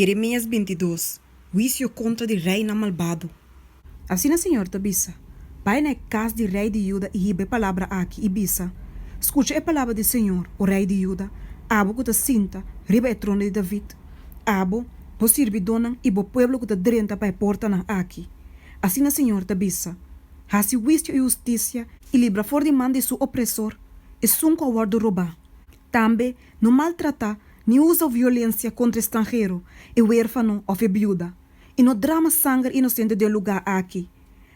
Jeremias binti dos, Huisio kontra di reinan malbado. Asina Señor ta bisa, Bai na e kas di rei di Juda i hiba e palabra aki, i bisa, Skucha e palabra di Señor, O rei di Juda, abo ku ta sinta riba e trono di David, abo, bo sirbidónan i bo pueblo ku ta drenta pa e portanan aki. Asina Señor ta bisa, Hasi huisio i hustisia i libra for di man di su opresor esun ku a wòrdu robá. Tambe no maltrata ni usa violensia kontra e stranhero, e werfano òf e biuda. I no drama sanger inosente den lugá aki.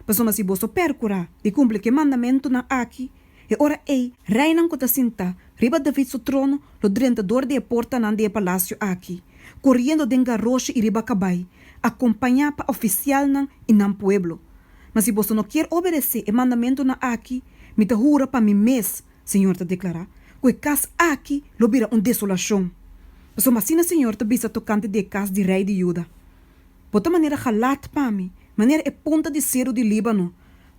Pasobra si boso pèrkurá di kumpli ku e mandamentunan aki, e ora ei reinan ku ta sintá riba David su trono lo drenta dor di e portanan di e palasio aki, koriendo den garoshi i riba kabai, akompañá pa ofisialnan i nan pueblo. Ma si boso no kier obedesé e mandamentunan aki, mi ta hura pa mi mes, Señor ta declara, cu e cas aki lo bira un desolacion. Pasobra asina Señor ta bisa tocante di e cas di rey di Judá, Bo ta manera galat pa mi, manera e punta di ceru di Líbano,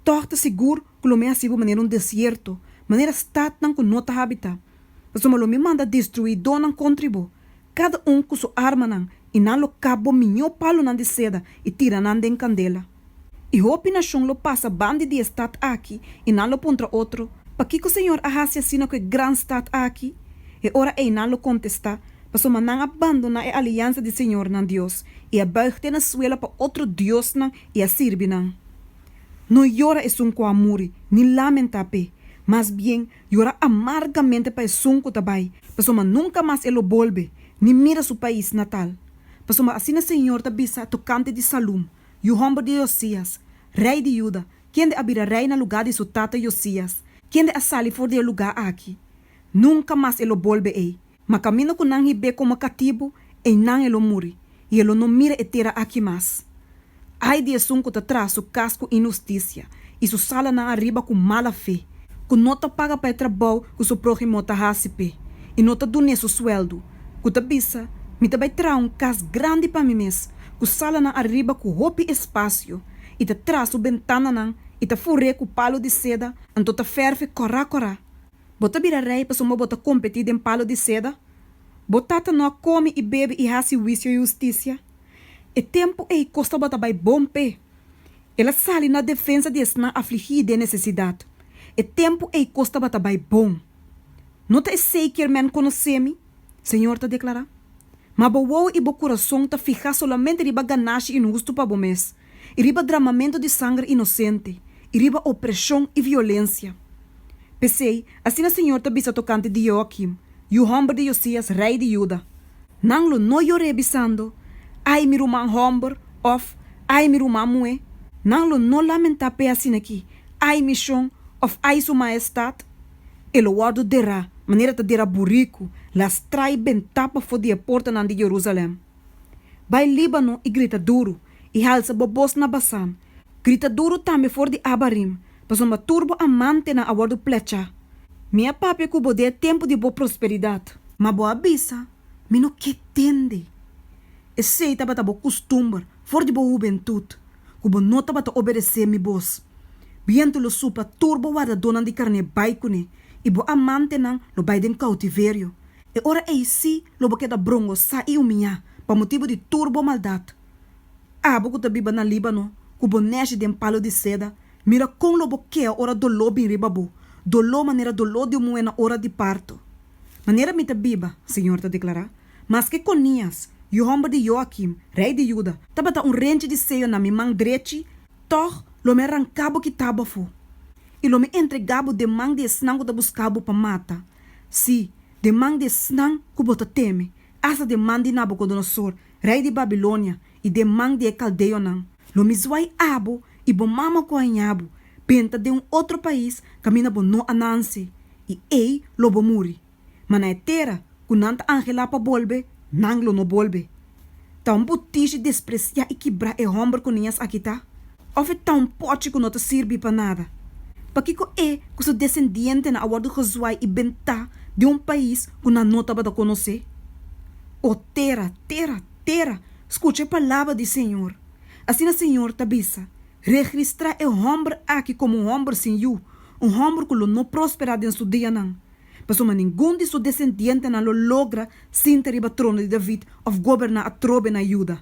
tog ta sigur cu lo mi a haci bo manera un desierto, manera stadnan cu no ta habitá, pasobra lo mi manda destruidonan contra di bo, cada un cu su armanan, y nan lo kap bo miñó palonan di seda y tira nan den candela. I hopi nashon lo pasa bandi di e stat aki, i nan lo puntra otro, Pakiko Señor a hasi asina ku e gran stat aki? E ora ei nan lo kontestá, Pasobra nan a bandoná e aliansa di Señor nan Dios, i a buig te nan suela pa otro diosnan i a sirbi nan. No yora esun ku a muri, ni lamentá p'e, mas bien, yora amargamente pa esun ku ta bai, pasobra nunka mas e lo bolbe, ni mira su pais natal. Pasobra asina Señor ta bisa tokante di Salum, Yu homber di Josías, rei di Juda, kende a bira rei na lugá di su tata Josías, kende a sali for di e lugá aki. Nunka mas e lo bolbe ei, ma kaminda ku nan hib'é komo katibu, einan e lo muri, i e lo no mira e tera aki mas. Ai di esun ku ta traha su kas ku inhustisia, i su salanan ariba ku mala fe, ku no ta paga pa e trabou ku su próhimo ta hasi p'e, i no ta dun'é su sueldu, ku ta bisa, Mi ta bai traha un kas grandi pa mi mes, ku salanan ariba ku hopi espasio, i ta tras su bentananan, i ta fur'é ku palu di seda, anto ta fèrf'é kòrá kòrá. Bo ta bira rei pasobra bo ta kompetí den palu di seda? Bo tata no a kome i bebe i hasi wisio i hustisia? E tempu ei kos tabata bai bon p'e. El a sali na defensa di esnan afligí i den nesesidat. E tempu ei kos tabata bai bon. No ta esei kier men konosé mi? Señor ta declara, Ma bo wou y bo curason ta fihá solamente riba ganashi inhusto pa bo mes, y riba dramamento di sanger inocente, y riba opresion y violencia. P'esey, asina Señor ta bisa tocante di Jehoiakim, yu homber di Josias, rey di Juda, Nan lo no yor'é bisando, Ay mi ruman homber! of Ay mi ruman muhé! Nan lo no lamentá p'e asin'akí, Ay mi shon! of Ay su Maestad! e lo wòrdu derá manera ta derá buriku, lastra'i bentá pafó di e portanan di Jerusalèm. Bai Líbano i grita duru, i halsa bo bos na Basán, grita duru tambe for di Abarim, pasobra tur bo amantenan a wòrdu plechá. Mi a papia ku bo den e tempu di bo prosperidat. Ma bo a bisa, Mi no ke tende. Esei tabata bo kustumber for di bo hubentut. ku bo no tabata obedesé mi bos. Bientu lo supla, tur bo wardadonan di karné bai kuné, i bo amantenan lo bai den koutiverio. E ora ei sí lo bo keda brongosá i umiñá, pa motibu di tur bo maldat. Abo ku ta biba na Líbano, ku bo nèshi den palu di seda, mira kon lo bo keo ora doló bin riba bo, doló manera doló di un muhé na ora di parto! Manera mi ta biba, señor ta deklará, Maske Konias, yu hòmber di Joakim, rei di Juda, tabata un renchi di seyo na mi man drechi, tòg lo mi a ranká bo kitá bafó, i lo mi entregá bo den man di esnan ku ta buská bo pa mata, sí, den man di esnan ku bo ta teme, asta den man di Nabukodonosor, rei di Babilonia, i den man di e kaldeonan. Lo mi zuai abo, i bo mama ku a hañá bo, benta den un otro pais kaminda bo no a nance, i ei lo bo muri. ma na e tera ku nan ta anhelá pa bolbe, nan lo no bolbe. Ta un butishi despresiá i kibrá e hòmber ku niñas aki ta? Òf e ta un pòchi ku no ta sirbi pa nada? Pakiko e ku su desendientenan a wòrdu gezuai i bentá den un pais ku nan no tabata konosé? O tera, tera, tera, skucha e palabra di señor! Asina señor ta bisa, Regristrá e hòmber aki komo un hòmber sin yu, un hòmber ku lo no prosperá den su dianan. Pasobra ningun di su desendientenan lo logra sinta riba trono di David òf goberná atrobe na Juda.